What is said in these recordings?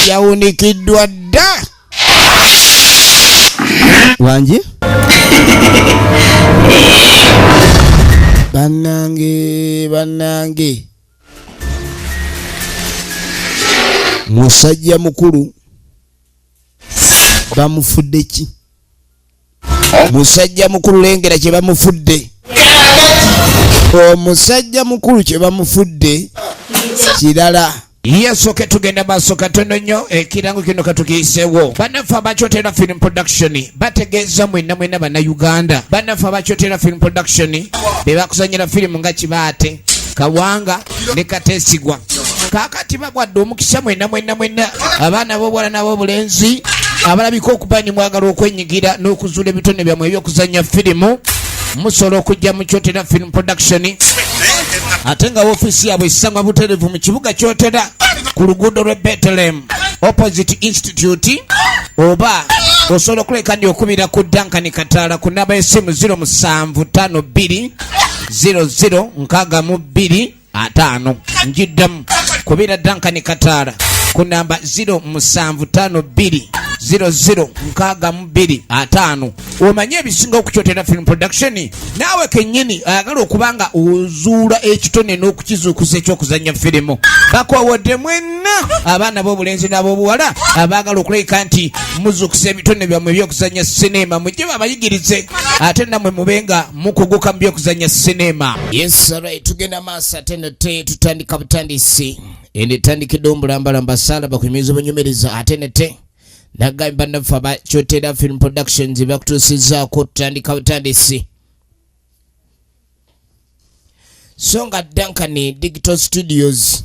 yawunikiddwa dda wangi bannange bannange musajja mukulu bamufudde ki musajja mukulu lengera kye bamufudde omusajja mukulu kye bamufudde kirala yesoke tugenda maaso katono nnyo ekirango kino katukiyisewo banaffe abakyotera film production bategeeza mwena mwena bannayuganda banaffe abakyotera film production bebakuzanyira firimu nga kibaate kawanga ne katesigwa kakati bagwadde omukisa mwena mwena mwena abaana bobwala nabobulenzi abalabika okuba ni mwagala okwenyigira n'okuzuula ebitone byammwe ebyokuzanya firimu musobola okujja mu kyotera film production ate nga ofiisi yaabwe esangwa buterevu mu kibuga kyotera ku luguudo lwe betelem opposite institute oba osobola okuleka ndi okubira ku dankani kataala ku naba esimu 0 musanvu 52 00 nkaaga mu bbiri ataano njiddamu kubira dankani kataala ku namba 0 musanvu taano bbiri 00 nkaaga mu bbiri ataano omanye ebisinga okukyotera film production naawe kennyini ayagala okuba nga ozuula ekitone n'okukizuukusa ekyokuzannya firimu bakowodde mwenna abaana b'obulenzi n'ab'obuwala abaagala okulabika nti muzuukusa ebitone byammwe ebyokuzannya sineema mujje babayigirize ate nammwe mube nga mukugu kambi okuzanya sinema yesara tugenda maaso ate nate tutandika butandisi endetandikidde omulambalamba sala bakuyimiriza obunyumiriza ate nate nagambye bannaffe aba kyotera film productions bakutuusizaako tutandika butandisi so nga dankani digital studios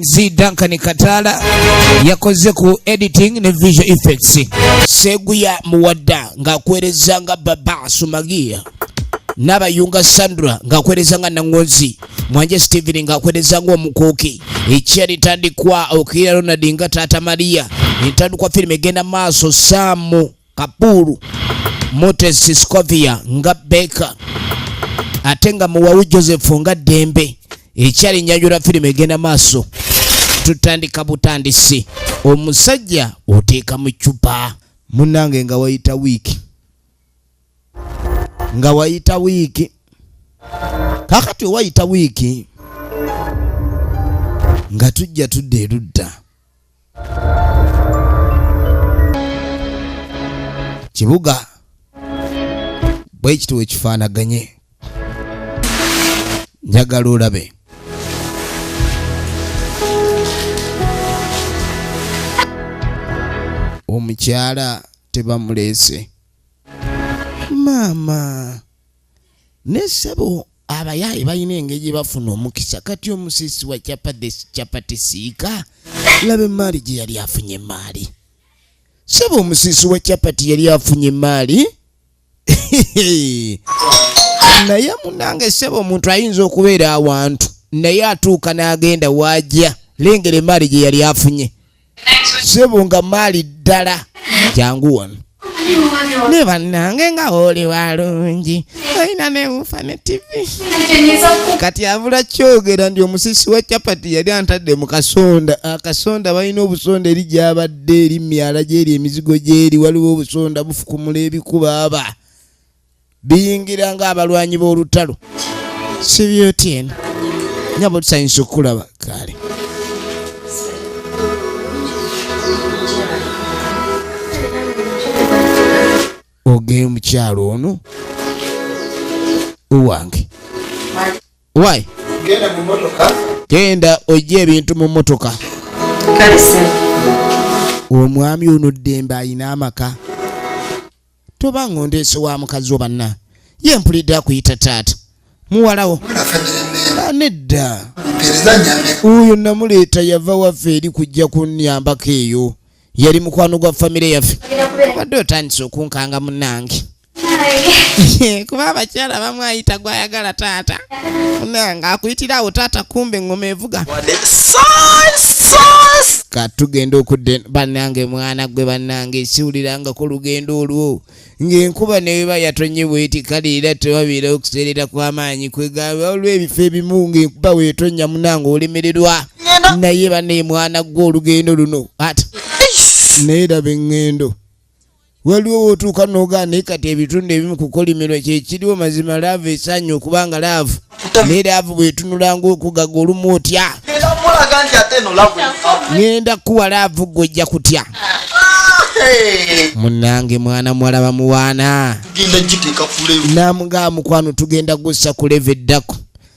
zi Duncan Kataala yakoze ku editing ne visual effects. Seguya Muwadda ng'akuweereza nga Baba Sumagia n'abayunga Sandra ng'akuweereza nga Nangonzi Mwanje Steven ng'akuweereza ng'omukuuki ekya litandikwa Okira Ronald nga Taata Maria entandikwa firimu egenda maaso Saamu Kabuuru, Motesi Scovia nga Baker ate nga Muwawu Joseph nga Ddembe. Ekyali nyanjula firimu egenda maaso tutandika butandisi. Omusajja oteeka mu ccupa. Munnange nga wayita wiiki nga wayita wiiki kakati owayita wiiki nga tujja tudda erudda kibuga bwekiti wekifaanaganye njagala olabe omukyala tebamuleese maama ne sebo abayaaye balina engeri gye bafuna omukisa kati omusisi wa chapati siika laba emaali gye yali afunye emaali sebo omusisi wa chapati yali afunye emaali naye munange sebo omuntu ayinza okubeera awantu naye atuuka n'agenda waajya lengera emaali gye yali afunye sebo nga maali ddala jangu wano ne bannange nga oli walungi olina newufa ne tivi kati avula kyogera nti omusisi wa capati yali antadde mu kasonda akasonda balina obusonda eri gyabadde eri myala gyeri emizigo gyeri waliwo obusonda bufukumula ebikubaaba biyingira nga abalwanyi b'olutalo sibyotien nyabo tusanyisa okukulaba kale ogeye omukyalo ono owange wy genda ojja ebintu mu motoka omwami ono ddembe ayina amaka toba ng'ondeese wa mukazi wo banna ye mpulidde akuyita taata muwalawo ah, nedda oyo namuleeta yava waffe eri kujja kunyambako eyo yali mukwano gwa famire yaffe obadde otandise okunkanga munange kuba abakyala bamwayita gwayagala taata nga akuyitira awo taata kumbe ngoma evuga katugenda okudde bannange mwana gwe bannange esiwulirangako lugendo olwo ng'enkuba neweba yatonye bweti kale era tewabeera okuseerera kw'amaanyi kwegamba olw'ebifo ebimu ng'enkuba wetonnya munange olemererwa naye banaye mwana gwe olugendo luno at naye laba eŋŋendo waliwo wotuuka nogaa naye kati ebitundu ebimu kukolimirwa kyekiriwo mazima laavu esaanya okuba nga laavu naye laavu bwetunulanga okugaga olumu otya ngenda kukuwa laavu gwe ojja kutya munange mwana muwala bamuwaana namugaa mukwano tugenda gussa kuleva eddako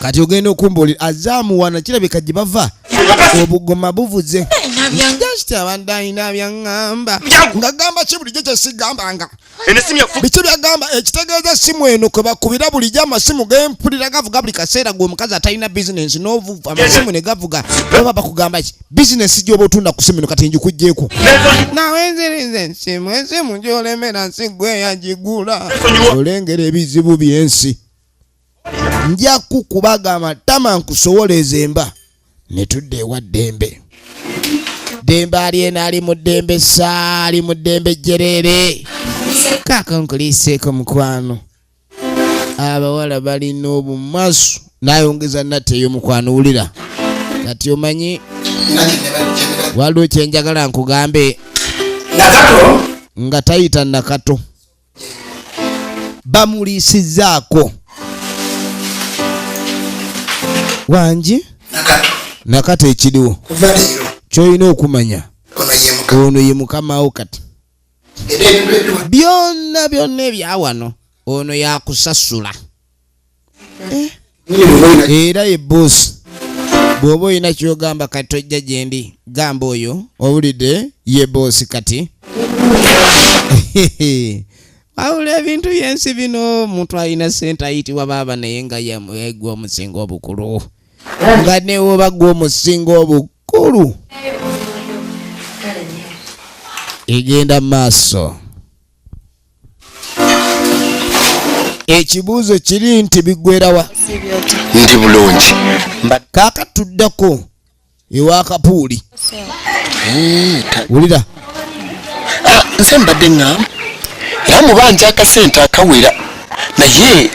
kati ogenda okumbuulira azaamuwana kirabika gye bava obugoma buvuze just abantu alina byaŋŋamba nga gamba ki bulijjo kyesigambanga biki byagamba ekitegeeza essimu eno kwe bakubira bulijjo amasimu gempulira gavuga buli kaseera gwe omukazi atalina bizinensi n'ovuva amasimu ne gavuga oba bakugamba ki bizinesi gyoba otunda ku simu eno kati ngikugyeko nawenzirize nsimu ensimu gyolemera nsi gwe yagigula olengera ebizibu byensi nja kukubaga amatama nkusowoleeza emba ne tudda ewa ddembe ddembe alyena ali mu ddembe saali mu ddembe jjereere kaaka nkuliiseeko mukwano abawala balina obumasu nayongeza nate eyo mukwano wulira kati omanyi waliwo kyenjagala nkugambe nga tayita nakato bamuliisizaako wangi nakato ekiriwo kyolina okumanya ono ye mukamawo kati byonna byonna ebyawano ono yakusasula eh? era ye boosi bw'oba olina kyogamba kati tojja gyendi gamba oyo owulidde ye boosi kati wawula ebintu byensi bino omuntu alina sente ayitibwa baaba naye nga yegwa omusinga obukulu nga newoba gwe omusinga obukulu egenda maaso ekibuuzo kiri nti bigwerawa ndi bulungi kakatuddako ewa kapuuli wulira ah, nze mbadde ŋŋamba era mubanja akasente akawera naye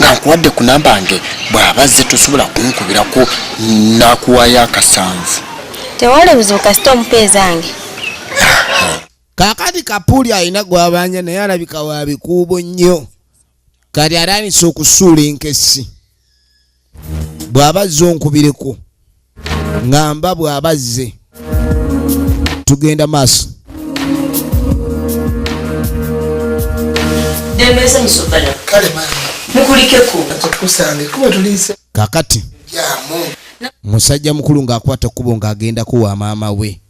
nga nkuwadde ku namba nge bw'aba zze tosobola kunkubirako nakuwayo akasanvu tewali buzibu kasita omupeezange kakati kapuuli alina gwabanja naye alabika wabikuubo nnyo kati atandise okusuula enkessi bw'aba azze onkubireko ngamba bw'aba azze tugenda maaso kakati musajja mukulu ng'akwata ekkubo ng'agendako wa maama we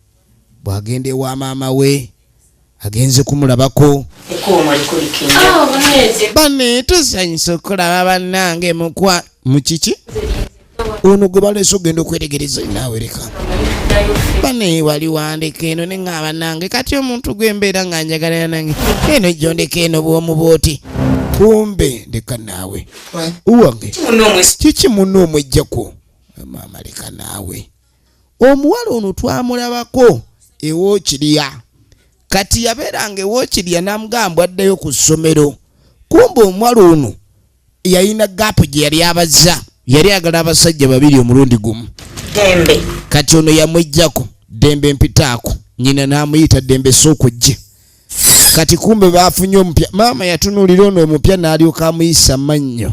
bwagenda ewa maama we agenze kumulabako bane tusanyusa okulaba banange mukwa mukiki ono gwe baleese okugenda okwetegereza nawereka bane wali wandeka eno neŋaba nange kati omuntu gwembeera nga njagalana nange eno jondeka eno bwomu bwoti kumbe leka naawe uwange kiki muno omwejjako maama leka naawe omuwala ono twamulabako ewokirya kati yabeeranga ewokirya namugamba addayo ku ssomero kumba omuwala ono yalina gaapu gye yali abazza yali agala abasajja babiri omulundi gumu dembe kati ono yamwejjako dembe mpitaako nyina n'amuyita dembe sookujje kati kumbe baafunye omupya maama yatunuulira ono omupya n'alyoka amuyisa mannyo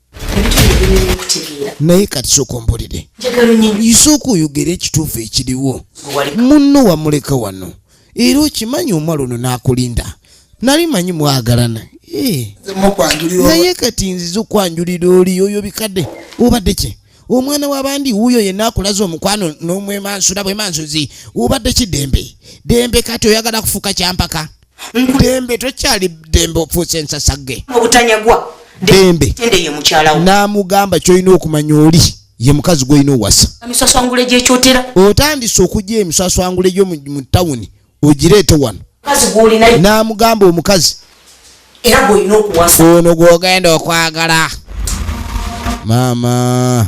naye kati sooka ombulire isooka oyogere ekituufu ekiriwo munno wamuleka wano era okimanyi omwala ono n'akulinda nali manyi mwagalana eh. naye kati nziza okwanjulira oli oyo bikadde obadde ki omwana wabandi wuuyo yenna akulaza omukwano n'omwemansula bwemansuzi obadde ki dembe dembe kati oyagala kufuuka kyampaka dembe tokyali dembe ofuuse ensasage obutanyagwa dembe n'amugamba kyolina okumanya oli ye mukazi gwolina owasa emiswaswangule gyekyotera otandise okugya emiswaswangule gyo mu tawuni ogireete wano n'amugamba omukazi era gwolina okuwasa ono gwogenda okwagala maama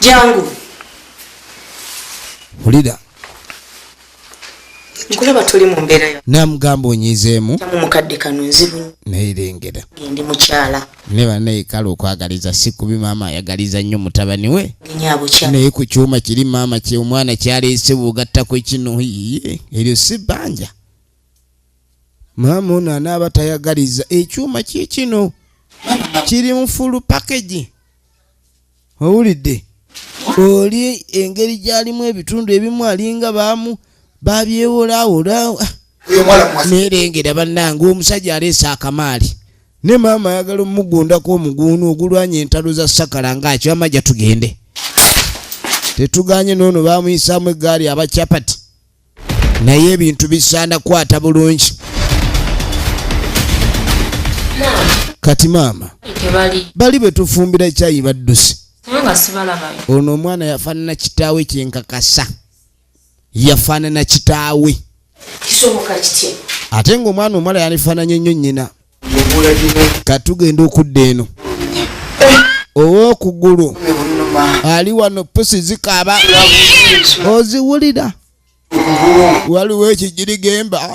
jangu ulira nkulaba tuli mu mbeera yo namugamba onyizeemu mukadde kano nzibu neyirengera ndi mukyala ne banaye kale okwagaliza si kubi maama ayagaliza nnyo mutabani we naye ku kyuma kiri maama kye omwana kyaleese bwogattako kino yiye eryo si bbanja maama ono anaaba tayagaliza ekyuma kyekino kiri mu fulu pakagi owulidde oli engeri gyalimu ebitundu ebimu alinga baamu babyewolawola nerengera bannange omusajja aleese akamaali ne maama ayagala omugundako omuguunu ogulwanya entalo za sakala ngaakyo amajja tugende tetuganye noono bamuyisaamu eggaali abakyapati naye ebintu bisaana kwata bulungi kati maama bali betufumbira ekyayi badduse ono omwana yafaanana kitaawe kyenkakasa yafaanana kitaawe ate ngaomwana omwala yalifaananye nnyo nyina katugenda okudda eno owokugulu ali wano pusi zikaaba oziwulira waliwo ekijirigemba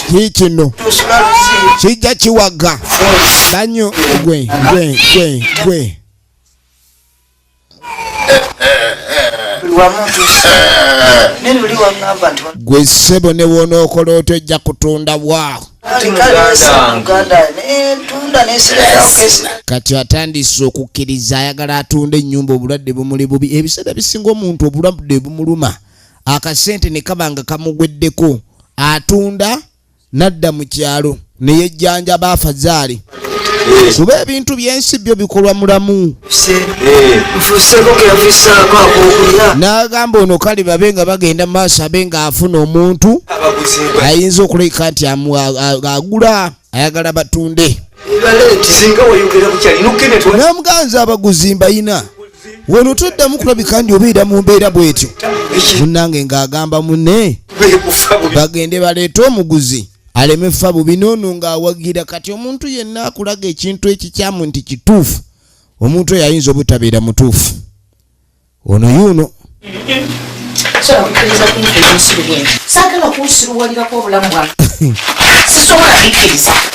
kikino kijja kiwaga nanyo gwe gwe gwe gwe gwe ssebo ne wonookola otyo ojja kutunda wa kati atandise okukkiriza ayagala atunde ennyumba obulwadde bumuli bubi ebiseera bisinga omuntu obulwadde bumuluma akasente ne kaba nga kamugweddeko atunda n'adda mu kyalo ne yejjanjaba afazaali kuba ebintu by'ensi byo bikolwa mulamu n'agamba ono kale babe nga bagenda mu maaso abe ng'afuna omuntu ayinza okulabika nti agula ayagala batunde n'omuganzi abaguzi mbayina wano toddamu kulabika ndi obeera mu mbeera bwetyo munnange ng'agamba munne bagende baleete omuguzi aleme fa bubi noono ng'awagira kati omuntu yenna akulaga ekintu ekikyamu nti kituufu omuntu oyo ayinza obutabeera mutuufu ono yuuno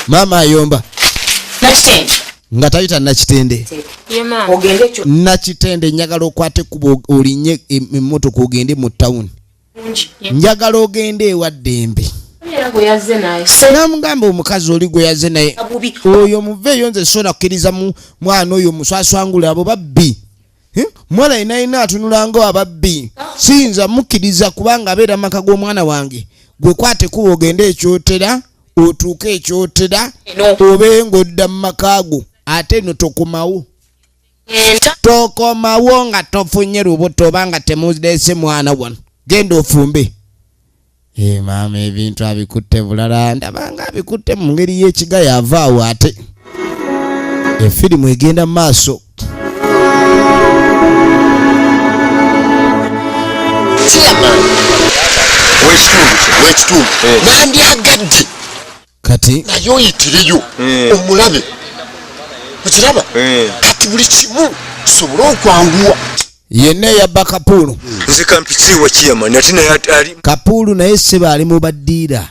maama ayomba nga tayita nakitende nakitende njagala okwata ekkuba olinye emmotoka ogende mu tawuni njagala ogende ewa ddembe namugamba omukazi oli gwe yaze naye oyo muveeyo nze soona kukkiriza mwana oyo muswaswangule abo babbi Eh? mwana yena yena atunulanga ababbi siyinza mukkiriza kubanga abeera maka g'omwana wange gwe kwate kuba ogende ekyotera otuuke ekyotera obe ng'odda mu maka go ate no tokomawo tokomawo nga tofunye lubuto oba nga temudeese mwana wano genda ofumbe Ee eh, maama ebintu abikutte bulala ndaba nga abikutte mu ngeri y'ekiga yava awo ate efirimu egenda mu maaso w'ekitundu w'ekitundu eh. nandyagadde kati naye oyitireyo eh. omulabe okiraba eh. kati buli kimu kisobole okwanguwa yenna eya bakapuulu nze kampikiwa kiyamani ati naye ali kapuulu naye seba ali mu baddiira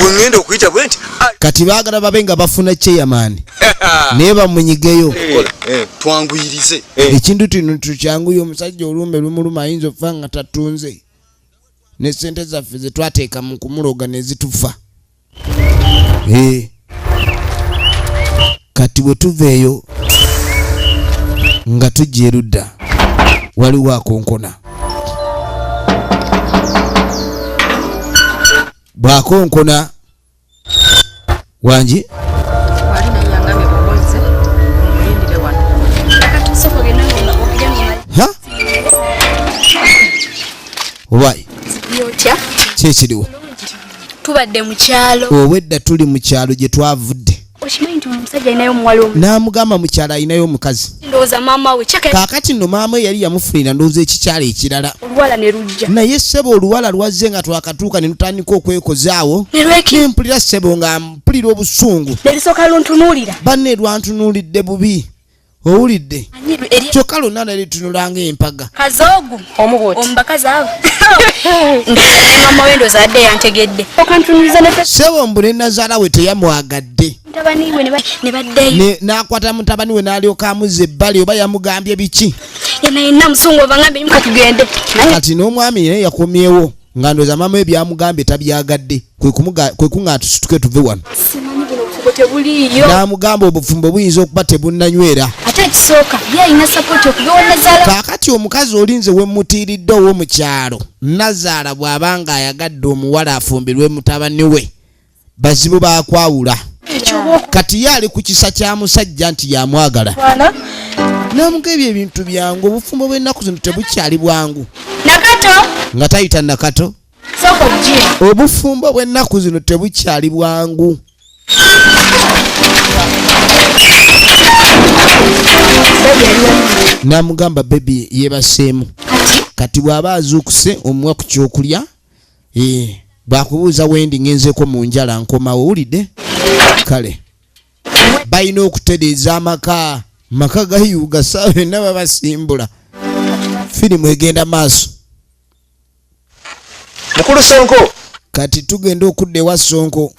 wengenda okuyita bwe nti kati baagala babe nga bafuna kyeyamaani naye bamunyigeyo eh, eh. twanguyirize eh. ekintu tino tukyanguye omusajja olumbe lumuluma ayinza okufa nga tatunze ne sente zaffe zetwateeka mu kumuloga nezitufa kati bwe tuveeyo nga tujja erudda waliwo akonkona bwakonkona wangi owayi kyekiriwo tubadde mukyalo obwedda tuli mukyalo gyetwavudde okimanyi nti omusajja alinayo omuwala omu n'amugamba mukyala alinayo omukazi ndowooza maama we kaakati nno maama we yali yamufunira ndowooza ekikyala ekirala oluwala ne lujja naye ssebo oluwala lwazze nga twakatuuka ne lutandika okwekozaawo ne mpulira ssebo nga mpulira obusungu ne lusooka luntunuulira banne lwantunuulidde bubi owulidde kyokka lwonna nali tunula nga empaga kazoogu omubuuti omubakazi abo mama wendo zadde yantegedde sebo mbu ne nazaala we teyamwagadde n'akwata mutabani we n'alyoka amuzza ebbali oba yamugambye biki kati n'omwami naye yakomyewo nga ndoza mama ebyamugambye tabyagadde kwe kuŋŋaana tusituke tuve wano n'amugamba obufumbo buyinza okuba tebunnanywera kaakati omukazi olinze wemmutiiridde ow'omu kyalo nazaala bw'aba ng'ayagadde omuwala afumbirwe mutabani we bazibu baakwawula kati ye ali ku kisa kya musajja nti yamwagala namuga ebyo ebintu byangu obufumbo bw'ennaku zino tebukyali bwangu nga tayita nakato obufumbo bw'ennaku zino tebukyali bwangu namugamba bebi yebaseemu kati bw'aba azuukuse omuwa ku kyokulya eh, bwakubuuza wendi ngenzeko mu njala nkomawo wulidde kale balina okutereeza amaka maka gayuuga saawa enna babasimbula firimu egenda maaso mukulu sonko kati tugenda okudda ewa sonko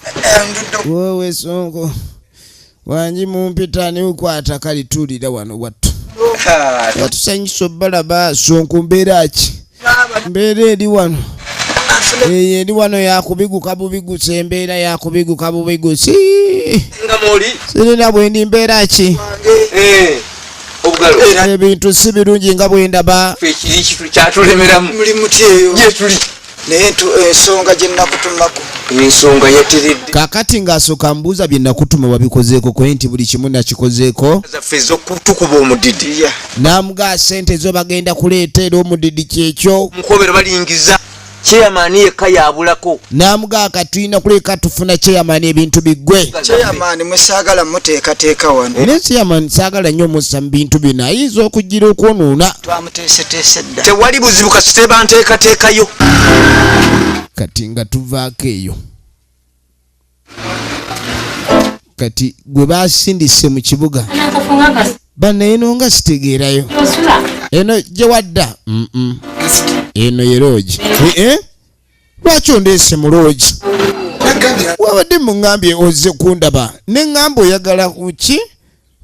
wowe sonko wangi mumpita niukwata kali tulira wano wattu watusanyusa obalaba sonko mbeera ki mbeera eri wano eyo eri wano yakubiguka bubigusa embeera yakubiguka bubigusi sirina bwendi mbeera ki ebintu si birungi nga bwendaba naye ensonga gyenakutumako ensonga yateredde kakati ng'asooka mbuuza bye nakutuma wabikozeeko kwe nti buli kimu nakikozeeko zaffe ezokutukuba omudidi namugaa sente zo bagenda kuleeta era omudidi kyekyo mukobera balingiza Chairman yekka yabulako. Namuga katuyina kuleka tufuna chairman ebintu bigwe. Chairman musagala muteka teka wano. Era chairman sagala nyo musa bintu bina izo kujira okwonuna. Twamutese tese da. Tewali buzibu kasiteba nteka teka yo. Katinga tuvake yo. kati gwe basindise mu kibuga banaye no nga sitegeerayo eno gye wadda eno ye loogi eh? lwaki ondeese mu loogi wabadde muŋambye ozze kundaba ne ŋamba oyagala kuki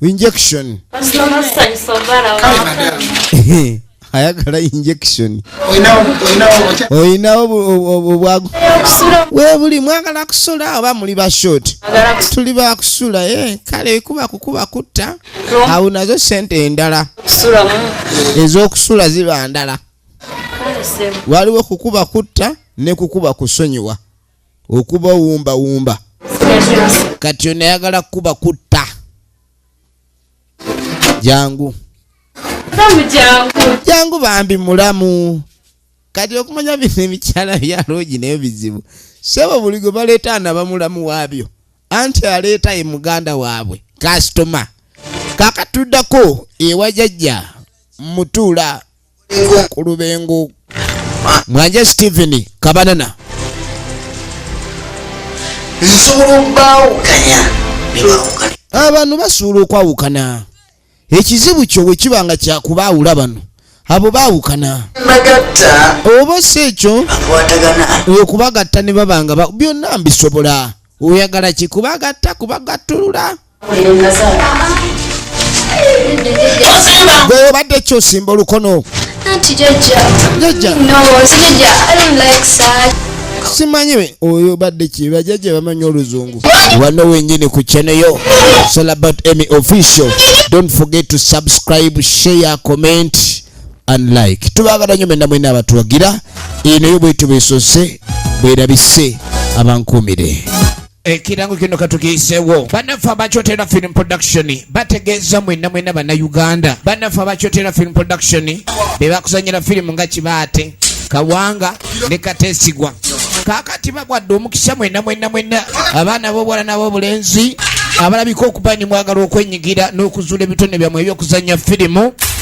injection ayagala injection olinawo obwagu webuli mwagala kusula oba muli bashort tuli bakusula eh, kale kuba kukuba kutta awo nazo sente endala ezokusula ziba ndala waliwo kukuba kutta nekukuba kusonyiwa okuba wumba wumba kati ono ayagala kuba kutta jangu jangu bambi mulamu kati okumanya bino emikyala byalogi nayo bizibu sebo buli gwe baleeta anaba mulamu waabyo anti aleeta ye muganda waabwe kasitoma kakatuddako ewajajja mutuula ku lubengo mwanje steven kabanana abantu basuula okwawukana ekizibu kyo bwe kiba nga kyakubaawula bano abo baawukana oba si ekyo okubagatta ne babanga byonna mbisobola oyagala kikubagatta kubagattulula gwe obadde ki osimba olukono simanyi oyo badde ki bajaja bamanyi oluzungu wano wenyini ku channel yo it's all about emy official don't forget to subscribe share comment and like tubagala nyo mwenna mwena abatuwagira eno yo bwetu besose bwerabise abankuumire Ekirango eh, kino katukiisewo banaffe abakyotera film production bategeeza mwena mwena bannayuganda banaffe abakyotera film production bebakuzanyira firimu nga kibaate kawanga ne katesigwa kakati bagwadde omukisa mwena mwena mwena abaana bobwala nabobulenzi abalabika okuba ni mwagala okwenyigira n'okuzuula ebitone byamwe ebyokuzanya firimu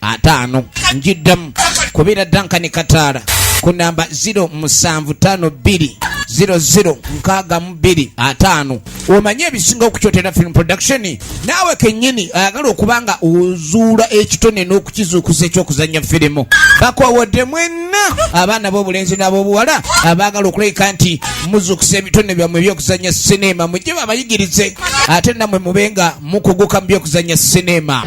ataano njiddamu kubira dankani kataala ku namba 0 musanvu tano bbiri 00 nkaaga mu bbiri ataano omanye ebisinga okukyotera film production naawe kennyini ayagala okuba nga ozuula ekitone n'okukizuukusa ekyokuzannya firimu bakowodde mwenna abaana b'obulenzi n'ab'obuwala abaagala okulabika nti muzuukusa ebitone byammwe ebyokuzannya sineema mujje babayigirize ate nammwe mube nga mukuguka mu byokuzannya sineema